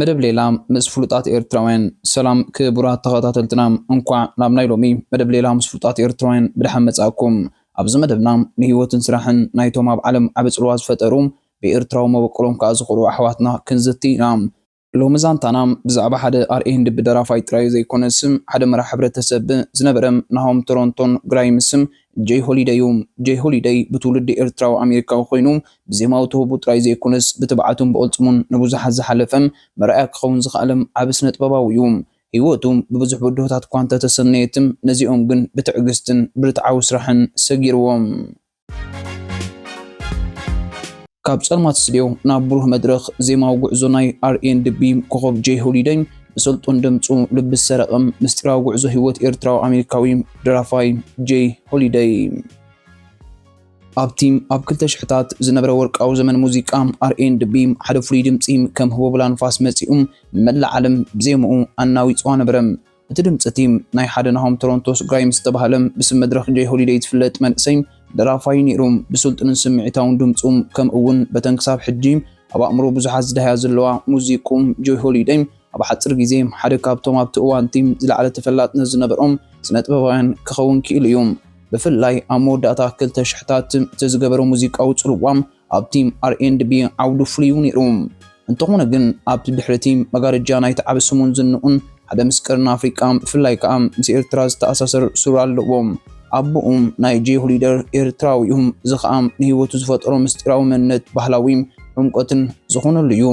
መደብ ሌላ ምስ ፍሉጣት ኤርትራውያን። ሰላም ክቡራት ተኸታተልትና እንቋዕ ናብ ናይ ሎሚ መደብ ሌላ ምስ ፍሉጣት ኤርትራውያን ብደሓን መጻእኩም። ኣብዚ መደብና ንህይወትን ስራሕን ናይቶም ኣብ ዓለም ዓቢ ጽልዋ ዝፈጠሩ ብኤርትራዊ መበቆሎም ከኣ ዝኮርዑ ኣሕዋትና ክንዝቲ ኢና። ሎሚ ዛንታና ብዛዕባ ሓደ ኣርኤ ህንድቢ ደራፋይ ጥራይ ዘይኮነስ ሓደ መራሕ ሕብረተሰብ ዝነበረ ናሆም ቶሮንቶን ግራይምስ ጀይ ሆሊደይ እዩ። ጀይ ሆሊደይ ብትውልዲ ኤርትራዊ ኣሜሪካዊ ኮይኑ ብዜማዊ ተውህቦ ጥራይ ዘይኮነስ ብትብዓቱን ብቕልጽሙን ንብዙሓት ዝሓለፈን መርኣያ ክኸውን ዝኸኣለም ዓቢ ስነጥበባዊ እዩ። ህይወቱ ብብዙሕ ብድሆታት እኳ እንተተሰነየትም ነዚኦም ግን ብትዕግስትን ብርትዓዊ ስራሕን ሰጊርዎም። ካብ ጸልማት ስትድዮ ናብ ብሩህ መድረኽ ዜማዊ ጉዕዞ ናይ ኣር ኤንድ ቢ ኮኾብ ጀይ ሆሊደይ ብሰልጡን ድምጹ ልቢ ዝሰረቐም ምስጢራዊ ጉዕዞ ህይወት ኤርትራዊ ኣሜሪካዊ ደራፋይ ጄይ ሆሊደይ ኣብቲ ኣብ ክልተ ሽሕታት ዝነበረ ወርቃዊ ዘመን ሙዚቃ ኣርኤንድቢ ሓደ ፍሉይ ድምፂ ከም ህቦብላ ንፋስ መፂኡ ንመላእ ዓለም ብዜምኡ ኣናዊፅዋ ነበረ። እቲ ድምፂ እቲ ናይ ሓደ ናሆም ቶሮንቶስ ግራይምስ ዝተባህለ ብስም መድረኽ ጄይ ሆሊደይ ዝፍለጥ መንእሰይ ደራፋይ እዩ ነይሩ። ብስልጡንን ስምዒታውን ድምፁ ከምኡ'ውን በተን ክሳብ ሕጂ ኣብ ኣእምሮ ብዙሓት ዝደሃያ ዘለዋ ሙዚቅኡ ጄይ ሆሊደይ ኣብ ሓጺር ግዜ ሓደ ካብቶም ኣብቲ እዋን እቲ ዝለዓለ ተፈላጥነት ዝነበሮም ስነጥበባውያን ክኸውን ክኢሉ እዩ። ብፍላይ ኣብ መወዳእታ ክልተ ሽሕታት እቲ ዝገበሮ ሙዚቃዊ ጽልዋ ኣብቲ ኣር ኤንድ ቢ ዓውዱ ፍሉይ እዩ ነይሩ። እንተኾነ ግን ኣብቲ ድሕሪ እቲ መጋረጃ ናይቲ ዓቢ ስሙን ዝንኡን ሓደ ምስ ቀርኒ ኣፍሪቃ ብፍላይ ከኣ ምስ ኤርትራ ዝተኣሳሰር ሱር ኣለዎ። ኣቦኡ ናይ ጄ ሁሊደር ኤርትራዊ እዩ፣ እዚ ከኣ ንህይወቱ ዝፈጠሮ ምስጢራዊ መንነት ባህላዊ ዕምቆትን ዝኾነሉ እዩ።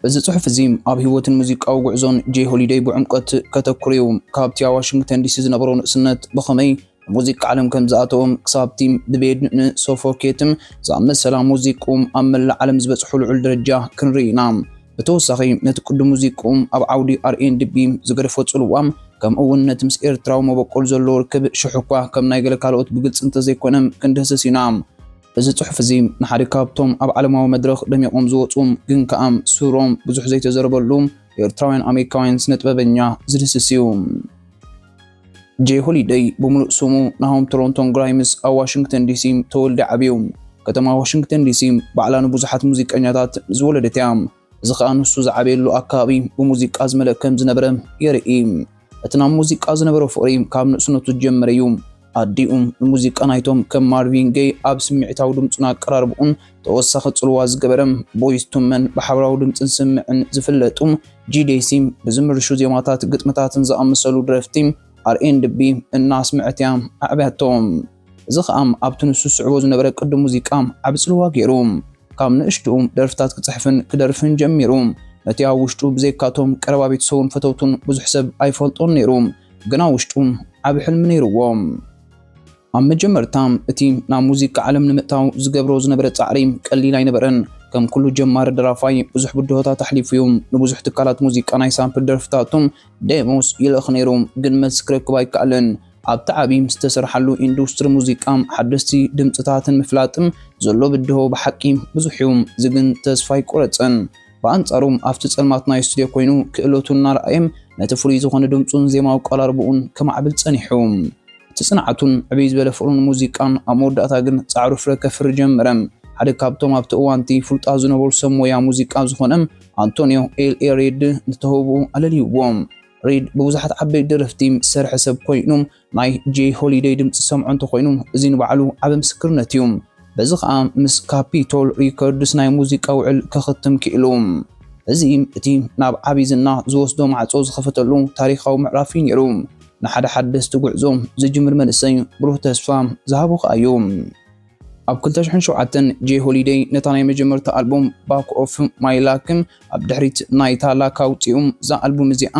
እዚ ጽሑፍ እዚ ኣብ ህይወትን ሙዚቃዊ ጉዕዞን ጄይ ሆሊደይ ብዕምቆት ከተኩር እዩ። ካብቲ ኣብ ዋሽንግተን ዲሲ ዝነበሮ ንእስነት ብኸመይ ኣብ ሙዚቃ ዓለም ከም ዝኣተወ ክሳብቲ ብቤድ ን ሶፎኬትም ዝኣመሰላ ሙዚቅኡም ኣብ መላእ ዓለም ዝበጽሑ ልዑል ደረጃ ክንርኢ ኢና። ብተወሳኺ ነቲ ቅዱም ሙዚቅኡም ኣብ ዓውዲ ኣርኤንድቢ ዝገደፎ ጽልዋ ከምኡ እውን ነቲ ምስ ኤርትራዊ መበቆል ዘለዎ ርክብ ሽሕ'ኳ ከም ናይ ገለ ካልኦት ብግልጺ እንተዘይኮነ ክንድህስስ ኢና። እዚ ጽሑፍ እዚ ንሓደ ካብቶም ኣብ ዓለማዊ መድረኽ ደሚቖም ዝወጹ ግን ከኣ ሱሮም ብዙሕ ዘይተዘረበሉ ኤርትራውያን ኣሜሪካውያን ስነጥበበኛ ዝድህስስ እዩ። ጄይ ሆሊደይ ብምሉእ ስሙ ናሆም ቶሮንቶን ግራይምስ ኣብ ዋሽንግተን ዲሲ ተወልዲ ዓብዩ። ከተማ ዋሽንግተን ዲሲ ባዕላ ንብዙሓት ሙዚቀኛታት ዝወለደት እያ። እዚ ኸኣ ንሱ ዝዓበየሉ ኣከባቢ ብሙዚቃ ዝመልእ ከም ዝነበረ የርኢ። እቲ ናብ ሙዚቃ ዝነበሮ ፍቕሪ ካብ ንእስነቱ ዝጀመረ እዩ። ኣዲኡ ንሙዚቃ ናይቶም ከም ማርቪን ገይ ኣብ ስምዒታዊ ድምጹን ኣቀራርባኡን ተወሳኺ ጽልዋ ዝገበረ ቦይዝ ቱ መን ብሓባራዊ ድምጽን ስምዕን ዝፍለጡ ጂዴሲ ብዝምርሹ ዜማታት ግጥምታትን ዝኣመሰሉ ደረፍቲ ኣር ኤንድ ቢ እናስመዐት እያ ኣዕብያቶ። እዚ ኸኣ ኣብቲ ንሱ ዝስዕቦ ዝነበረ ቅዲ ሙዚቃ ዓቢ ጽልዋ ገይሩ። ካብ ንእሽትኡ ደርፍታት ክጽሕፍን ክደርፍን ጀሚሩ። ነቲ ኣብ ውሽጡ ብዘይካ'ቶም ቀረባ ቤተሰቡን ፈተውቱን ብዙሕ ሰብ ኣይፈልጦን ነይሩ፣ ግን ኣብ ውሽጡ ዓቢ ሕልሚ ነይርዎ። ኣብ መጀመርታ እቲ ናብ ሙዚቃ ዓለም ንምእታው ዝገብሮ ዝነበረ ጻዕሪ ቀሊል ኣይነበረን። ከም ኩሉ ጀማሪ ደራፋይ ብዙሕ ብድሆታት ኣሕሊፉ'ዩ። ንብዙሕ ትካላት ሙዚቃ ናይ ሳምፕል ደርፍታቱ፣ Demos፣ ይልእኽ ነይሩ፣ ግን መልሲ ክረክብ ኣይከኣለን። ኣብቲ ዓቢ ምስ ዝተሰርሓሉ ኢንዱስትሪ ሙዚቃ ሓደስቲ ድምጽታትን ምፍላጥን ዘሎ ብድሆ ብሓቂ ብዙሕ'ዩ፣ እዚ ግን ተስፋ ኣይቆረጸን። ብኣንጻሩ ኣብቲ ጸልማት ናይ ስቱድዮ ኮይኑ ክእለቱ እናርኣየ ነቲ ፍሉይ ዝኾነ ድምጹን ዜማዊ ኣቀራርባኡን ከማዕብል ጸኒሑ። እቲ ጽንዓቱን ዕብይ ዝበለ ፍቕሩ ንሙዚቃን ኣብ መወዳእታ ግን ጻዕሩ ፍረ ከፍሪ ጀመረ። ሓደ ካብቶም ኣብቲ እዋን'ቲ ፍሉጣት ዝነበሩ ሰብ ሞያ ሙዚቃ ዝኾነ ኣንቶንዮ ኤል ኤሪድ ንተውህቦኡ ኣለልዩዎ። ሪድ ብብዙሓት ዓበይቲ ደረፍቲ ዝሰርሐ ሰብ ኮይኑ ናይ ጄይ ሆሊደይ ድምጺ ዝሰምዖ እንተኾይኑ እዚ ንባዕሉ ዓቢ ምስክርነት እዩ። በዚ ከኣ ምስ ካፒቶል ሪከርድስ ናይ ሙዚቃ ውዕል ከኽትም ክኢሉ። እዚ እቲ ናብ ዓቢ ዝና ዝወስዶ ማዕጾ ዝኸፈተሉ ታሪኻዊ ምዕራፍ እዩ ነይሩ። ንሓደ ሓደስቲ ጉዕዞ ዝጅምር መንእሰይ ብሩህ ተስፋ ዝሃቦ ከኣ እዩ። ኣብ ክልተ ሽሕን ሸውዓተን ጄ ሆሊደይ ነታ ናይ መጀመርታ ኣልቡም ባክ ኦፍ ማይ ላክ ኣብ ድሕሪት ናይታ ላክ ኣውጺኡ። እዛ ኣልቡም እዚኣ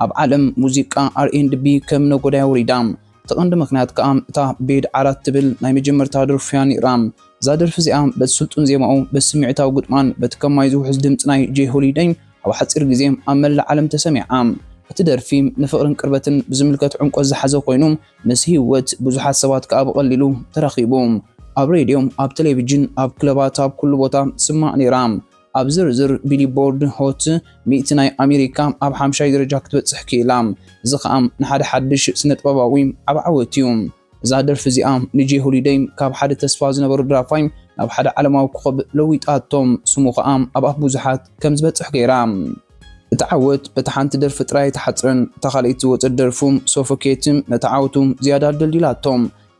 ኣብ ዓለም ሙዚቃ ኣር ኤንድ ቢ ከም ነጎዳያ ወሪዳ። እቲ ቀንዲ ምኽንያት ከኣ እታ ቤድ ዓራት ትብል ናይ መጀመርታ ደርፉ'ያ ነይራ። እዛ ደርፊ እዚኣ በቲ ስልጡን ዜማኡ፣ በቲ ስምዒታዊ ግጥማን በቲ ከም ማይ ዝውሕዝ ድምጺ ናይ ጄ ሆሊደይ ኣብ ሓጺር ግዜ ኣብ መላእ ዓለም ተሰሚዓ። እቲ ደርፊ ንፍቕርን ቅርበትን ብዝምልከት ዕምቆት ዝሓዘ ኮይኑ፣ ምስ ህይወት ብዙሓት ሰባት ከኣ ብቐሊሉ ተራኺቡ። ኣብ ሬድዮ፣ ኣብ ተሌቪጅን፣ ኣብ ክለባት ኣብ ኩሉ ቦታ ትስማዕ ነይራ። ኣብ ዝርዝር ቢሊቦርድ ሆት ሚእቲ ናይ ኣሜሪካ ኣብ ሓምሻይ ደረጃ ክትበጽሕ ክኢላ። እዚ ከኣ ንሓደ ሓድሽ ስነጥበባዊ ዓቢ ዓወት'ዩ። እዛ ደርፊ እዚኣ ንጄ ሆሊደይ ካብ ሓደ ተስፋ ዝነበሮ ደራፋይ ናብ ሓደ ዓለማዊ ኮኾብ ለዊጣቶ፣ ስሙ ከኣ ኣብ ኣፍ ብዙሓት ከም ዝበጽሕ ገይራ። እታ ዓወት በታ ሓንቲ ደርፊ ጥራይ ኣይተሓጽረን፣ እታ ካልኣይቲ ዝወጸት ደርፉም Suffocateም ነታ ዓወቶም ዝያዳ ኣደልዲላቶ።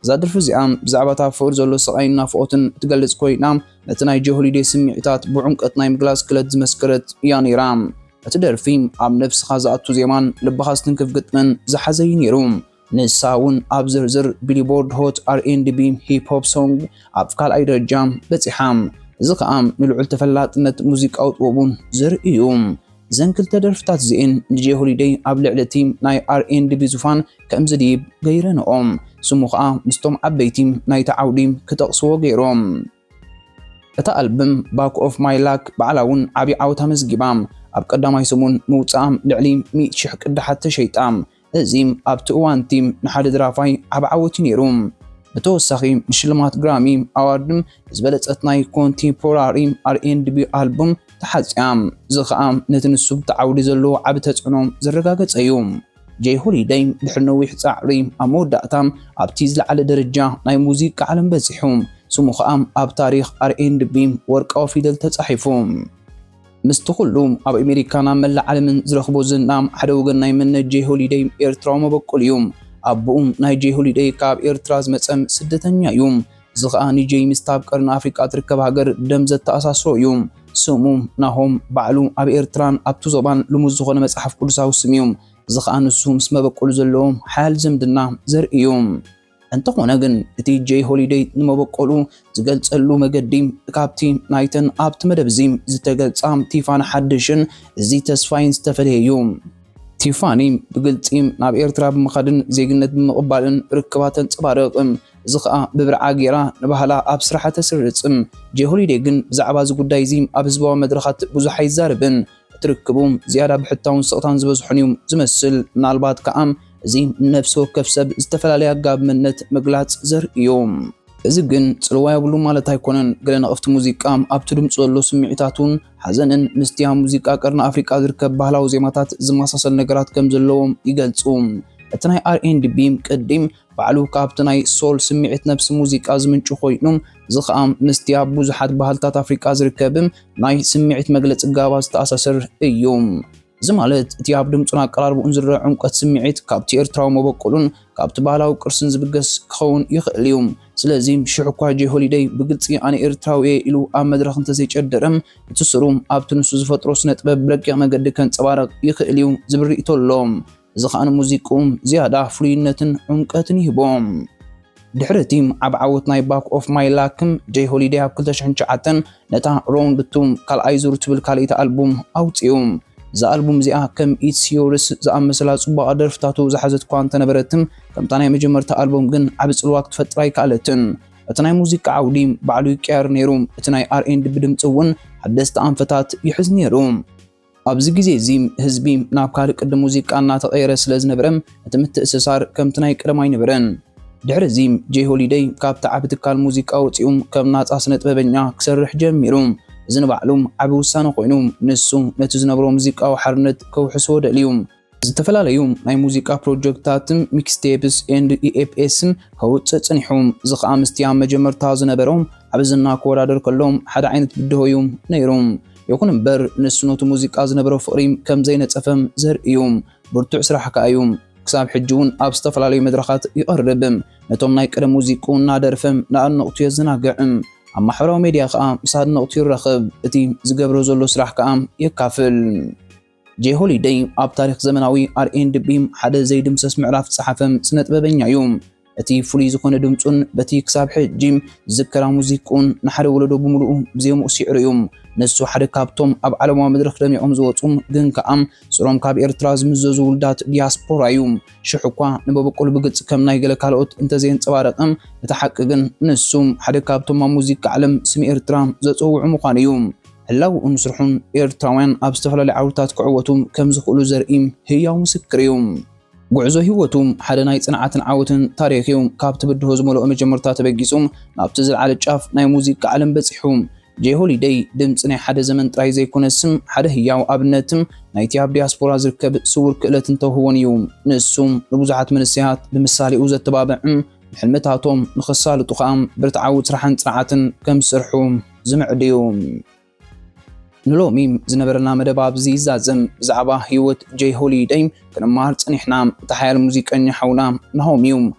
እዛ ደርፊ እዚኣ ብዛዕባ እቲ ኣብ ፍቕሪ ዘሎ ስቓይን ናፍቖትን እትገልጽ ኮይና፣ ነቲ ናይ Joe Holiday ስምዒታት ብዑምቀት ናይ ምግላጽ ክለት ዝመስከረት እያ ነይራ። እቲ ደርፊ ኣብ ነብስኻ ዝኣቱ ዜማን ልብኻ ዝትንክፍ ግጥምን ዝሓዘ እዩ ነይሩ። ንሳ እውን ኣብ ዝርዝር ቢልቦርድ ሆት ኣር ኤንድ ቢ ሂፕ ሆፕ ሶንግ ኣብ ካልኣይ ደረጃ በጺሓ፣ እዚ ኸኣ ንልዑል ተፈላጥነት ሙዚቃዊ ጥበቡ ዘርኢ እዩ። እዘን ክልተ ደርፍታት እዚኤን ንጄ ሆሊደይ ኣብ ልዕሊ እቲ ናይ ኣር ኤንድ ቢ ዙፋን ከም ዝድይብ ገይረንኦ፣ ስሙ ኸኣ ምስቶም ዓበይቲ ናይቲ ዓውዲ ክጠቕስዎ ገይሮም። እታ ኣልብም ባክ ኦፍ ማይ ላክ ባዕላ እውን ዓቢ ዓወት ኣመዝጊባ፣ ኣብ ቀዳማይ ሰሙን ምውጽኣ ልዕሊ ሚእቲ ሽሕ ቅዳሓት ተሸይጣ፣ እዚ ኣብቲ እዋን እቲ ንሓደ ደራፋይ ዓቢ ዓወት እዩ ነይሩ። ብተወሳኺ ንሽልማት ግራሚ ኣዋርድ ንዝበለጸት ናይ ኮንቴምፖራሪ ኣር ኤንድ ቢ ኣልቡም ተሓጽያ፣ እዚ ኸኣ ነቲ ንሱ ብቲ ዓውዲ ዘለዎ ዓቢ ተጽዕኖ ዘረጋገጸ እዩ። ጀይ ሆሊደይ ድሕሪ ነዊሕ ጻዕሪ ኣብ መወዳእታ ኣብቲ ዝለዓለ ደረጃ ናይ ሙዚቃ ዓለም በጺሑ፣ ስሙ ኸኣ ኣብ ታሪኽ ኣር-ኤንድ-ቢ ወርቃዊ ፊደል ተጻሒፉ። ምስቲ ኹሉ ኣብ ኣሜሪካን ኣብ መላእ ዓለምን ዝረኽቦ ዝና፣ ሓደ ወገን ናይ መንነት ጀይ ሆሊደይ ኤርትራዊ መበቆል እዩ። ኣቡኡ ናይ ጀይ ሆሊደይ ካብ ኤርትራ ዝመጸ ስደተኛ እዩ። እዚ ኸኣ ንጀይ ምስታ ኣብ ቀርኒ ኣፍሪቃ እትርከብ ሃገር ደም ዘተኣሳስሮ እዩ። ስሙ፣ ናሆም፣ ባዕሉ ኣብ ኤርትራን ኣብቲ ዞባን ልሙድ ዝዀነ መጽሓፍ ቅዱሳዊ ስም እዩ። እዚ ኸኣ ንሱ ምስ መበቈሉ ዘለዎ ሓያል ዝምድና ዘርኢ እዩ። እንተዀነ ግን፣ እቲ ጀይ ሆሊደይ ንመበቈሉ ዝገልጸሉ መገዲ ካብቲ ናይተን ኣብቲ መደብ እዚ ዝተገልጻ ቲፋኒ ሓድሽን እዚ ተስፋይን ዝተፈልየ እዩ። ቲፋኒ ብግልጺ ናብ ኤርትራ ብምኻድን ዜግነት ብምቕባልን ርክባ ተንጸባርቕ። እዚ ከኣ ብብርዓ ገይራ ንባህላ ኣብ ስራሓ ተስርጽ። ጀይ ሆሊደይ ግን ብዛዕባ እዚ ጉዳይ እዚ ኣብ ህዝባዊ መድረኻት ብዙሕ ኣይዛረብን። እቲ ርክቡ ዝያዳ ብሕታውን ስቕታን ዝበዝሖን እዩ ዝመስል፣ ምናልባት ከኣ እዚ ንነፍሲ ወከፍ ሰብ ዝተፈላለየ ኣገባብ መንነት ምግላጽ ዘርኢ እዩ። እዚ ግን ጽልዋ የብሉን ማለት ኣይኮነን፣ ገለ ነቐፍቲ ሙዚቃ ኣብቲ ድምጹ ዘሎ ስምዒታቱን ሓዘንን ምስቲ ኣብ ሙዚቃ ቀርኒ ኣፍሪቃ ዝርከብ ባህላዊ ዜማታት ዝመሳሰል ነገራት ከም ዘለዎም ይገልጹ። እቲ ናይ ኣር-ኤንድ-ቢ ቅዲ ባዕሉ ካብቲ ናይ ሶል ስምዒት ነብሲ ሙዚቃ ዝምንጩ ኮይኑ፣ እዚ ኸኣ ምስቲ ኣብ ብዙሓት ባህልታት ኣፍሪቃ ዝርከብ ናይ ስምዒት መግለጺ ጋባ ዝተኣሳሰር እዩ። እዚ ማለት እቲ ኣብ ድምጹን ኣቀራርባኡን ዝርኣ ዕምቆት ስምዒት ካብቲ ኤርትራዊ መበቆሉን ካብቲ ባህላዊ ቅርስን ዝብገስ ክኸውን ይኽእል እዩ። ስለዚ ሽሕ'ኳ ጀይ ሆሊደይ ብግልጺ ኣነ ኤርትራዊ እየ ኢሉ ኣብ መድረኽ እንተዘይጨደረ፣ እቲ ሱሩ ኣብቲ ንሱ ዝፈጥሮ ስነጥበብ ብረቂቕ መገዲ ከንጸባርቕ ይኽእል እዩ ዝብል ርእይቶ ኣሎ። እዚ ኸኣ ንሙዚቅኡም ዝያዳ ፍሉይነትን ዑምቀትን ይህቦ። ድሕሪ እቲ ዓቢ ዓወት ናይ ባክ ኦፍ ማይ ላክም፣ ጀይ ሆሊደይ ኣብ ክልተ ሽሕን ትሽዓተን ነታ ሮውንድ ቱ፣ ካልኣይ ዙር፣ ትብል ካልኣይቲ ኣልቡም ኣውጽኡ። እዛ ኣልቡም እዚኣ ከም ኢትስ ዮርስ ዝኣመሰላ ጽቡቓት ደርፍታቱ ዝሓዘት'ኳ እንተነበረት፣ ከምታ ናይ መጀመርታ ኣልቡም ግን ዓቢ ጽልዋ ክትፈጥር ኣይከኣለትን። እቲ ናይ ሙዚቃ ዓውዲ ባዕሉ ይቀያየር ነይሩ፣ እቲ ናይ ኣር ኤንድ ቢ ድምጺ እውን ሓደስቲ ኣንፈታት ይሕዝ ነይሩ። ኣብዚ ግዜ እዚ ህዝቢ ናብ ካልእ ቅዲ ሙዚቃ እናተቐየረ ስለ ዝነበረ እቲ ምትእስሳር ከምቲ ናይ ቀደም ኣይነበረን። ድሕሪ እዚ ጀይ ሆሊደይ ካብቲ ዓቢ ትካል ሙዚቃ ወጺኡ ከም ናጻ ስነጥበበኛ ክሰርሕ ጀሚሩ። እዚ ንባዕሉ ዓቢ ውሳነ ኮይኑ ንሱ ነቲ ዝነበሮ ሙዚቃዊ ሓርነት ከውሕሶ ደልዩ። ዝተፈላለዩ ናይ ሙዚቃ ፕሮጀክትታትን ሚክስቴፕስ ኤንድ ኢኤፕኤስን ከውፅእ ፅኒሑ። እዚ ከዓ ምስቲ ኣብ መጀመርታ ዝነበሮ ዓቢ ዝና ክወዳደር ከሎ ሓደ ዓይነት ብድሆ እዩ ነይሩ። ይኹን እምበር ንሱ ነቲ ሙዚቃ ዝነበሮ ፍቕሪ ከም ዘይነፀፈ ዘርኢ እዩ። ብርቱዕ ስራሕ ከዓ እዩ። ክሳብ ሕጂ እውን ኣብ ዝተፈላለዩ መድረኻት ይቐርብ። ነቶም ናይ ቀደም ሙዚቅኡ እናደርፈ ንኣድነቕቱ የዘናግዕ። ኣብ ማሕበራዊ ሚዲያ ከዓ ምስ ኣድነቕቱ ይራኸብ፣ እቲ ዝገብሮ ዘሎ ስራሕ ከዓ የካፍል። ጄይ ሆሊደይ ኣብ ታሪኽ ዘመናዊ ኣርኤንድቢ ሓደ ዘይድምሰስ ምዕራፍ ዝጸሓፈ ስነጥበበኛ እዩ። እቲ ፍሉይ ዝኾነ ድምጹን በቲ ክሳብ ሕጂ ዝዝከራ ሙዚቅኡን ንሓደ ወለዶ ብምሉኡ ብዜምኡ ሲዕሩ እዩ። ንሱ ሓደ ካብቶም ኣብ ዓለማዊ መድረኽ ደሚቖም ዝወጹ ግን ከኣ ሱሮም ካብ ኤርትራ ዝምዘዙ ውልዳት ዲያስፖራ እዩ። ሽሕ እኳ ንበበቁል ብግጽ ከም ናይ ገለ ካልኦት እንተዘየንጸባረቐ፣ እቲ ሓቂ ግን ንሱ ሓደ ካብቶም ኣብ ሙዚቃ ዓለም ስም ኤርትራ ዘጽውዑ ምዃኑ እዩ። ህላወኡን ስርሑን ኤርትራውያን ኣብ ዝተፈላለዩ ዓውድታት ክዕወቱ ከም ዝኽእሉ ዘርኢ ህያው ምስክር እዩ። ጉዕዞ ህይወቱ ሓደ ናይ ጽንዓትን ዓወትን ታሪኽ እዩ። ካብቲ ብድሆ ዝመልኦ መጀመርታ ተበጊሱ ናብቲ ዝለዓለ ጫፍ ናይ ሙዚቃ ዓለም በጺሑ። ጄይ ሆሊደይ ድምጺ ናይ ሓደ ዘመን ጥራይ ዘይኮነስ፣ ሓደ ህያው ኣብነት ናይቲ ኣብ ዲያስፖራ ዝርከብ ስዉር ክእለትን ተውህቦን እዩ። ንሱ ንብዙሓት መንሰያት ብምሳሌኡ ዘተባብዕ፣ ንሕልምታቶም ንኸሳልጡ ኸኣ ብርትዓዊ ጽራሕን ጽንዓትን ከም ዝሰርሑ ዝምዕድ እዩ። ንሎሚ ዝነበረና መደብ ኣብዚ ይዛዘም። ብዛዕባ ህይወት ጄይ ሆሊደይ ክንማሃር ጸኒሕና። እቲ ሓያል ሙዚቀኛ ሓውና ናሆም እዩ።